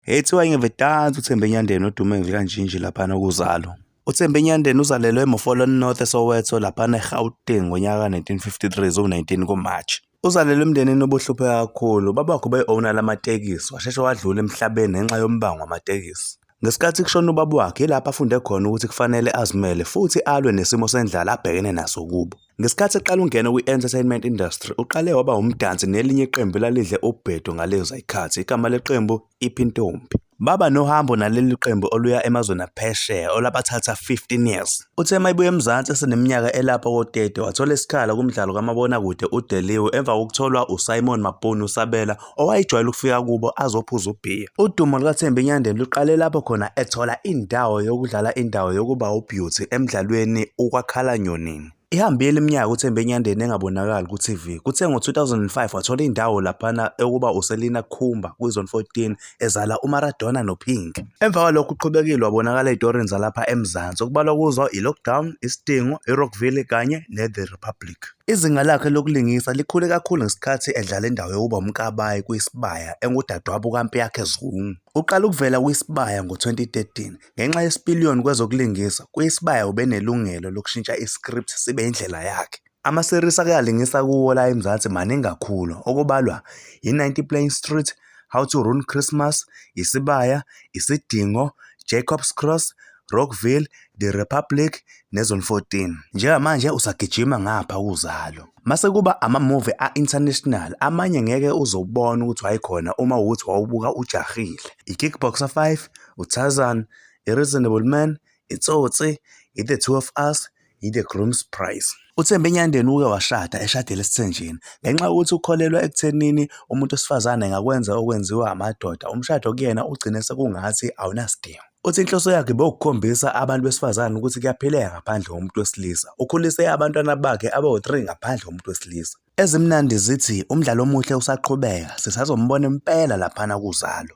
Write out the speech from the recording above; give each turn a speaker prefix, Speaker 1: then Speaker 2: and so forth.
Speaker 1: Ethiwa ingevedansi uThembe Nyandeni odume ngekanjinji laphana okuzalo. UThembe Nyandeni uzalelwe eMofolon North eSoweto laphana eGauteng ngonyaka ka-1953 ziwu-19 kuMarch. Uzalelwe emndenini obuhluphe kakhulu. Ubabakhe ubeyi-owner lamatekisi, washeshe wadlula emhlabeni ngenxa yombango wamatekisi. Ngesikhathi kushona ubaba wakhe yilapho afunde khona ukuthi kufanele azimele futhi alwe nesimo sendlala abhekene naso kubo. Ngesikhathi eqala ungena kwi-entertainment industry, uqale waba umdansi nelinye iqembu elalidle ubhedo ngalezo zikhathi, igama leqembu iPhintombi. Baba nohambo naleli qembu oluya emazweni aphesheya olabathatha 15 years. Uthe uma ebuya eMzansi eseneminyaka elapha ko-30 wathola isikhala kumdlalo kamabonakude uDeliwe emva kokutholwa uSimon Mabhunu Sabela owayejwayele ukufika kubo azophuza ubhiya. Udumo lukaThembi Nyandeni luqale lapho khona ethola indawo yokudlala indawo yokuba uBeauty emdlalweni uKwakhala Nyonini. Ihambile iminyaka uThembi Nyandeni engabonakali ku-TV. Kuthe ngo-2005 wathola indawo laphana yokuba uSelina Khumba kwiZone 14 ezala uMaradona noPink. Emva kwalokho uqhubekile wabonakala ey'torini zalapha eMzansi okubalwa kuzo iLockdown, Isidingo, iRockville kanye neThe Republic. Izinga lakhe lokulingisa likhule kakhulu ngesikhathi edlala indawo yokuba uMkabayi kwiSibaya engudadewabo kaMpiyakhe Zungu. Uqale ukuvela kwiSibaya ngo-2013. Ngenxa yesipiliyoni kwezokulingisa, kwiSibaya ubenelungelo lokushintsha i-script sibe indlela yakhe. Ama-series ake alingisa kuwo la eMzansi maningi kakhulu, okubalwa yi-90 Plane Street, How to Ruin Christmas, Isibaya, Isidingo, Jacob's Cross, Rockville, The Republic neZone 14. Njengamanje usagijima ngapha uzalo. Mase kuba ama-movie a-international amanye ngeke uzobona ukuthi wayekhona uma ukuthi wawubuka ujahile. I-Kickboxer 5, uTarzan, i-Reasonable Man, iTsotsi, i-The Two of Us, yi-the groom's price uthembe enyandeni uke washada eshadela esithenjini ngenxa yokuthi ukholelwa ekuthenini umuntu wesifazane engakwenza okwenziwa amadoda umshado kuyena ugcine sekungathi awunasidingo Uthi inhloso yakhe bewukukhombisa abantu besifazane ukuthi kuyaphileka ngaphandle komuntu wesilisa. Ukhulise abantwana bakhe abawu-3 ngaphandle komuntu wesilisa. Ezimnandi zithi umdlalo omuhle usaqhubeka, sisazombona impela laphana kuzalo.